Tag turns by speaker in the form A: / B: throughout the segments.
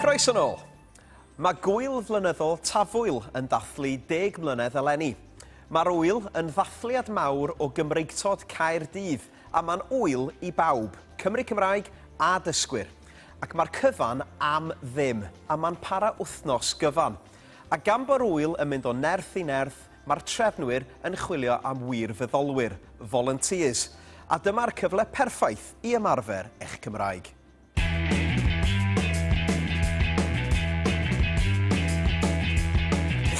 A: Croeso nôl. Mae gwyl flynyddol Tafwyl yn dathlu deg mlynedd eleni. Mae'r wyl yn ddathliad mawr o Gymreigtod Caerdydd a mae'n wyl i bawb, Cymry Cymraeg a dysgwyr. Ac mae'r cyfan am ddim a mae'n para wythnos gyfan. A gan bo'r wyl yn mynd o nerth i nerth, Mae'r trefnwyr yn chwilio am wirfoddolwyr, volunteers, a dyma'r cyfle perffaith i ymarfer eich Cymraeg.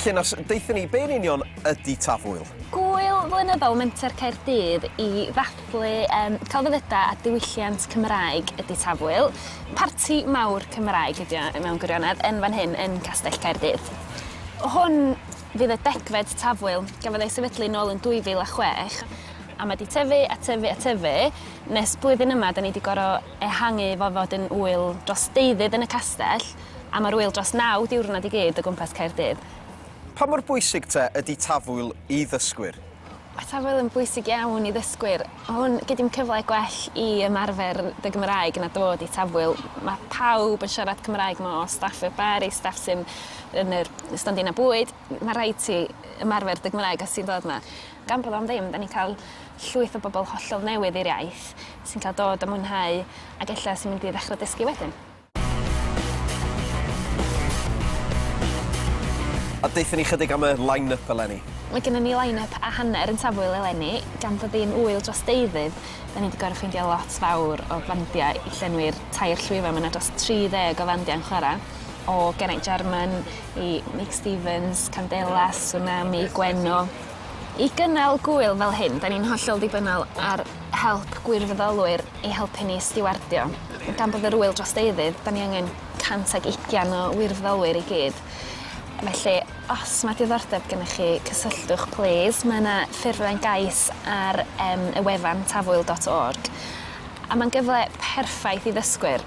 A: Llun os deuthyn ni be'n union ydy Tafwyl. Gŵyl flynyddol
B: Menter Caerdydd i ddathlu um, celfyddydau a diwylliant Cymraeg ydy Tafwyl. Parti mawr Cymraeg ydy o mewn gwirionedd yn fan hyn yn Castell Caerdydd. Hwn Fydd y degfed tafwyl, gafodd ei sefydlu nôl yn 2006, a mae 'di tyfu a tyfu a tyfu, nes blwyddyn yma 'da ni 'di gor'o' ehangu fo fod yn ŵyl dros deuddydd yn y castell, a ma'r ŵyl dros naw diwrnod i gyd o gwmpas Caerdydd. Pa mor
A: bwysig te ydi tafwyl i ddysgwyr? Mae tafwyl
B: yn bwysig iawn i ddysgwyr. Mae hwn gyd yn cyfle gwell i ymarfer dy Gymraeg na dod i tafwyl. Mae pawb yn siarad Cymraeg 'ma o staff y bar i staff sy'n yn yr stondina bwyd. Mae rhaid ti ymarfer dy Gymraeg os ti'n dod 'ma. Gan bod am ddim, 'da ni'n cael llwyth o bobl hollol newydd i'r iaith sy'n cael dod a mwynhau ac ella sy'n mynd i ddechrau dysgu wedyn.
A: A deutha ni chydig am y line-up eleni. Mae gennym ni line-up
B: a hanner yn Tafwyl eleni, gan fod hi'n ŵyl dros deuddydd, 'dan ni 'di gor'o' ffeindio lot fawr o fandia i llenwi'r tair llwyfan, ma' 'na dros 30 o fandia yn chwara', o Geraint Jarman i Meic Stevens, Candelas, Tsunami, Gwenno. I gynnal gŵyl fel hyn, 'dan ni'n hollol ddibynnol ar help gwirfoddolwyr ei helpu ni i stiwardio. Gan bod yr ŵyl dros deuddydd, 'dan ni angen 120 o wirfoddolwyr i gyd. Felly, os ma' diddordeb gennych chi, cysylltwch plîs. Mae 'na ffurflen gais ar yym y wefan tafwyl dot org. A ma'n gyfle perffaith i ddysgwyr.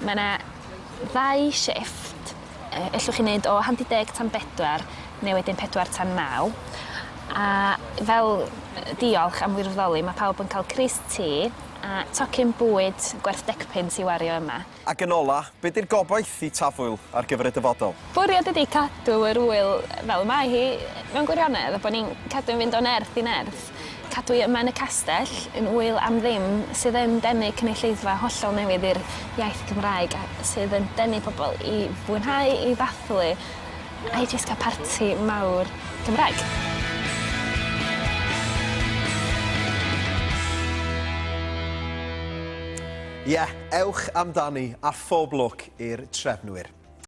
B: Mae 'na ddau shifft ellwch chi neud o handi deg tan bedwar ne' wedyn pedwar tan naw a fel yy diolch am wirfoddoli ma' pawb yn ca'l crys te a tocyn bwyd gwerth decpunt i wario yma. Ac yn ola, be'
A: di'r gobaith i Tafwyl ar gyfer y dyfodol? Bwriad ydi cadw
B: yr ŵyl fel y mae hi mewn gwirionedd a bo' ni'n cadw'n fynd o nerth i nerth. Cadw'i yma yn y castell, yn ŵyl am ddim, sydd yn denu cynulleidfa hollol newydd i'r iaith Gymraeg a sydd yn denu pobl i fwynhau, i ddathlu a i jyst cael parti mawr Cymraeg.
A: Ie, ewch amdani a phob lwc i'r trefnwyr.